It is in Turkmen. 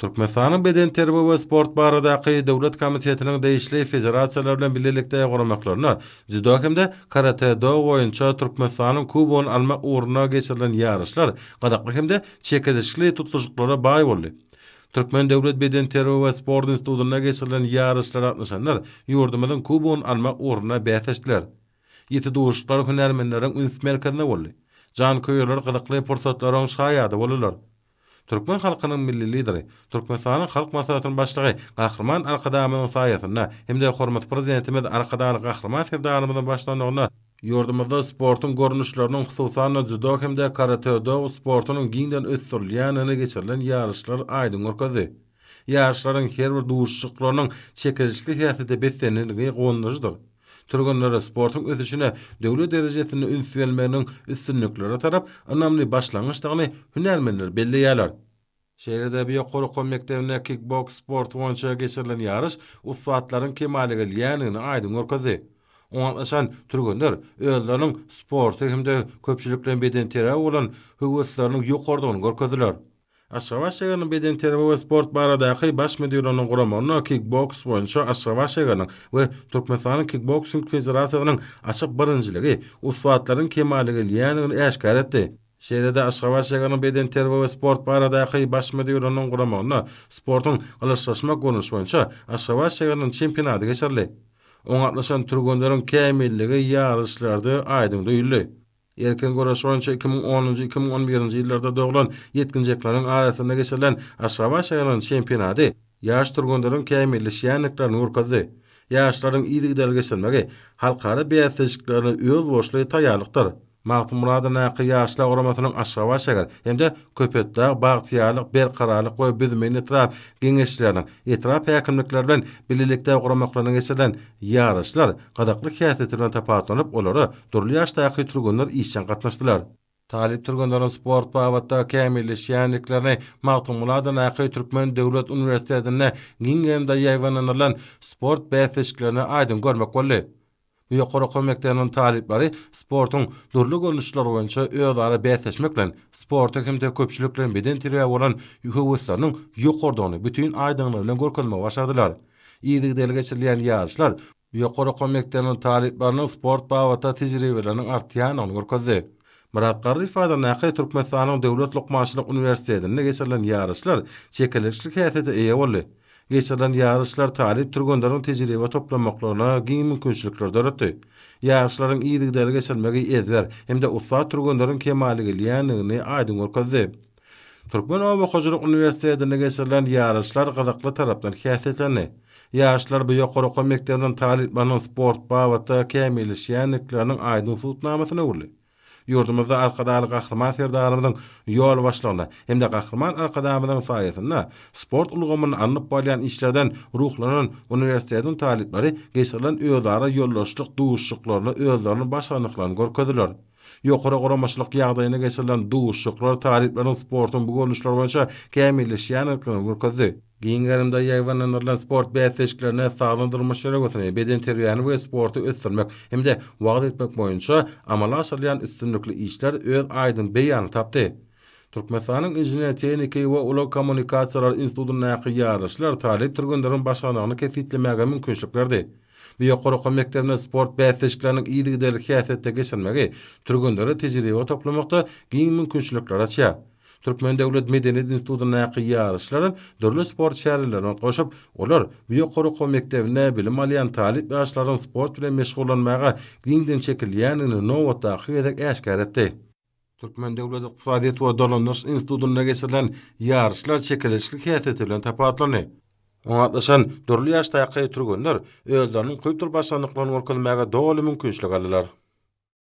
Türkmenistanyň Bedenterbiýe we sport baradaky döwlet komitetiniň degişli federasiýalar bilen bilelikde guramaklarynda dzýudo hem-de karate-do boýunça Türkmenistanyň Kubogyny almak ugrunda geçirilen ýaryşlar gyzykly hem-de çekeleşikli tutluşyklara baý boldy. Türkmen döwlet bedenterbiýe we sport institutynda geçirilen ýaryşlara gatnaşanlar ýurdumyzyň Kubogyny almak ugrunda bäsleşdiler. Ýiti duşuşyklar hünärmenleriň üns merkezinde boldy. Janköýerler gyzykly pursatlaryň şaýady boldular. Türkmen halkynyň Milli Lideri, Türkmenistanyň Halk Maslahatynyň Başlygy Gahryman Arkadagymyzyň saýasynda hem-de hormatly Prezidentimiz Arkadagly Gahryman Serdarymyzyň başlanygynda, ýurdumyzda sportuň görnüşleriniň, hususan-da, dzýudo hem-de karate-do sportunyň giňden ösdürilýändigini geçirilen ýaryşlar aýdyň görkezdi. Ýaryşlaryň her bir duşuşyklarynyň çekilişli häsiýete beslendigi guwandyryjydyr. Türgenlere sportuň ösüşine döwlet derejesinde üns berilmeginiň üstünliklere tarap ynamly başlangyçdygyny hünärmenler belleýärler. Şeýle-de bu ýokary okuw mekdebinde kikboks sporty boýunça geçirilen ýaryş ussatlaryň kemala gelýändigini aýdyň görkezdi. Oňa gatnaşan türgenler özleriniň sporta hem-de köpçülikleýin bedenterbiýä bolan höwesleriniň ýokarydygyny görkezdiler. Aşgabat şäheriniň bedenterbiýe we sport baradaky Baş müdirliginiň guramagynda kikboks boýunça Aşgabat şäheriniň we Türkmenistanyň Kikboksing federasiýasynyň açyk birinjiligi ussatlaryň kemala gelýändigini äşgär etdi. Şeýle-de Aşgabat şäheriniň bedenterbiýe we sport baradaky Baş müdirliginiň guramagynda sportuň Gylyçlaşmak görnüşi boýunça Aşgabat şäheriniň çempionady geçirildi. Oňa gatnaşan türgenleriň kämilligi ýaryşlarda aýdyň duýuldy. Erkin göreş boýunça iki müň onunjy, iki müň on birinji ýyllarda doglan ýetginjekleriň arasynda geçirilen Aşgabat şäheriniň çempionady ýaş türgenleriň kämilleşýändiklerini görkezdi. Ýaşlaryň yzygiderli geçirmegi halkara bäsleşiklerine özboluşly taýýarlykdyr. Magtymguladyn Naky ýaşlar guramasynyň Aşgabat şäher hem-de Köpetdag, Bagtyýarlyk, Berkararlyk we Büdümin etrap Geňeşçileriniň etrap häkimlikleri bilen bilelikde guramaklaryna geçirilen Ýaryşlar gyzykly häsiýeti bilen tapawutlanyp, olara dürli ýaşdaky türgenler işjeň gatnaşdylar. Talyp türgenleriň sport babatda kämilleşýändiklerini Magtymguly adyndaky Türkmen döwlet uniwersitetinde giň gerimde ýaýbaňlandyrylan sport bäsleşiklerinde aýdyň görmek boldy. Bu ýokary okuw mekdebiniň talyplary sportuň dürli görnüşleri boýunça özara bäsleşmek bilen, sporta hem-de köpçülikleýin bedenterbiýä bolan höwesleriniň ýokarydygyny bütin aýdyňlygy bilen görkezmegi başardylar. Yzygiderli geçirilýän ýaryşlar ýokary okuw mekdebiniň talyplarynyň sport babatda tejribeleriniň artýandygyny görkezdi. Myrat Garryýew adyndaky Türkmenistanyň Döwlet lukmançylyk uniwersitetinde geçirilen ýaryşlar çekeleşikli häsiýete eýe boldy. Geçirilen ýaryşlar talyp türgenleriň tejribe toplamaklaryna giň mümkinçilikler döretdi. Ýaryşlaryň yzygiderli geçirilmegi ezber hem-de ussat türgenleriň kemala gelýändigini aýdyň görkezdi. Türkmen oba hojalyk uniwersitetinde geçirilen ýaryşlar gyzykly tarapdan häsiýetlendi. Ýaşlar bu ýokary okuw mekdebiniň talyplarynyň sport babatda kämilleşýändikleriniň aýdyň subutnamasyna öwrüldi. Ýurdumyzda Arkadagly Gahryman Serdarymyzyň ýolbaşçylygynda hem-de Gahryman Arkadagymyzyň saýasynda sport ulgamynda alnyp barylýan işlerden ruhlanan uniwersitetiň talyplary geçirilen özara ýoldaşlyk duşuşyklaryna özleriniň başarnyklaryny görkezdiler. Ýokary guramaçylyk ýagdaýynda geçirilen duşuşyklar talyplaryň sportuň bu görnüşleri boýunça kämilleşýändigini görkezdi. Giň gerimde ýaýbaňlandyrylan sport bäsleşiklerine sagdyn durmuş ýörelgesini, bedenterbiýäni we sporty ösdürmek hem-de wagyz etmek boýunça amala aşyrylýan üstünlikli işler öz aýdyň beýanyny tapdy. Türkmenistanyň Inžener-tehniki we ulag kommunikasiýalary institutyndaky ýaryşlar talyp türgenleriň başarnygyny kesgitlemäge mümkinçilik berdi. Bu ýokary okuw mekdebinde sport bäsleşikleriniň yzygiderli häsiýetde geçirilmegi türgenlere tejribe toplamakda giň mümkinçilikleri açýar. Türkmen döwlet medeniýet institutyndaky ýaryşlaram dürli sport çärelerine goşup, olar bu ýokary okuw mekdebinde bilim alýan talyp ýaşlaryň sport bilen meşgullanmaga giňden çekilýändigini nobatdaky gezek äşgär etdi. Türkmen döwlet ykdysadyýet we dolandyryş institutynda geçirilen ýaryşlar çekeleşikli häsiýeti bilen tapawutlandy. Oňa gatnaşan dürli ýaşdaky türgenler özleriniň kompýuter başarnyklaryny görkezmäge doly mümkinçilik aldylar.